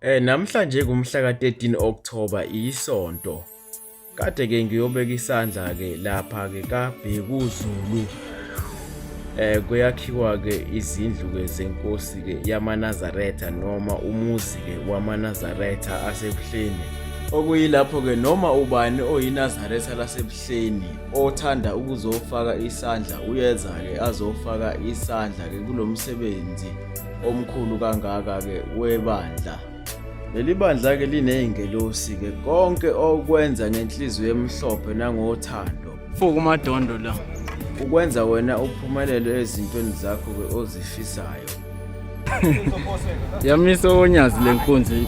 Eh namhlanje kumhla ka-13 October isonto. Kade ke ngiyobeka isandla ke lapha ke kaBhekuzulu. Eh kuyakhiwa ke izindlu ke zenkosi ke yamaNazaretha noma umuzi ke wamaNazaretha aseBuhleni. Okuyilapho ke noma ubani oyinazaretha laseBuhleni othanda ukuzofaka isandla uyeza ke azofaka isandla ke kulomsebenzi. omkhulu kangaka-ke webandla leli bandla-ke liney'ngelosi-ke konke okwenza ngenhliziyo emhlophe nangothando fuku madondo la ukwenza wena uphumelele ezintweni zakho-ke ozifisayo yamisa onyazi le nkunzi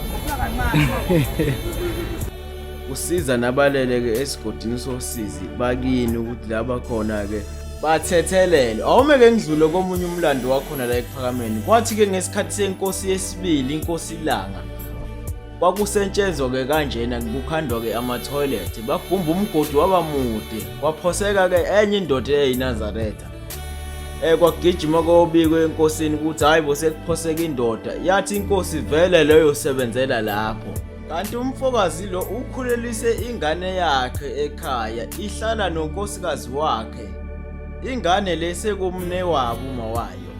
usiza nabalele-ke esigodini sosizi bakini ukuthi la bakhona-ke bathethelele awumeke ngidlule komunye umlando wakhona la ekuphakameni kwathi-ke ngesikhathi senkosi yesibili inkosi ilanga kwakusentshenzwa-ke kanjena kukhandwa-ke amathoyilethi bagumba umgodi waba mude kwaphoseka-ke enye indoda eyayinazaretha um eh, kwagijima kobikwe enkosini ukuthi hhayi bo sekuphoseka indoda yathi inkosi vele leyo sebenzela lapho Kanti umfokazi lo ukhulelise ingane yakhe ekhaya ihlala nonkosikazi wakhe. Ingane le sekumne wabo uma wayo.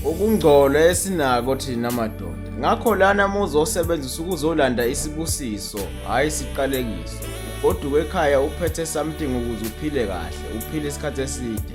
Ukungcola esinako thina madoda. Ngakho lana muzosebenzisa ukuzolanda isibusiso, hayi siqalekiso. Goduka ekhaya uphethe something ukuze uphile kahle, uphile isikhathi eside.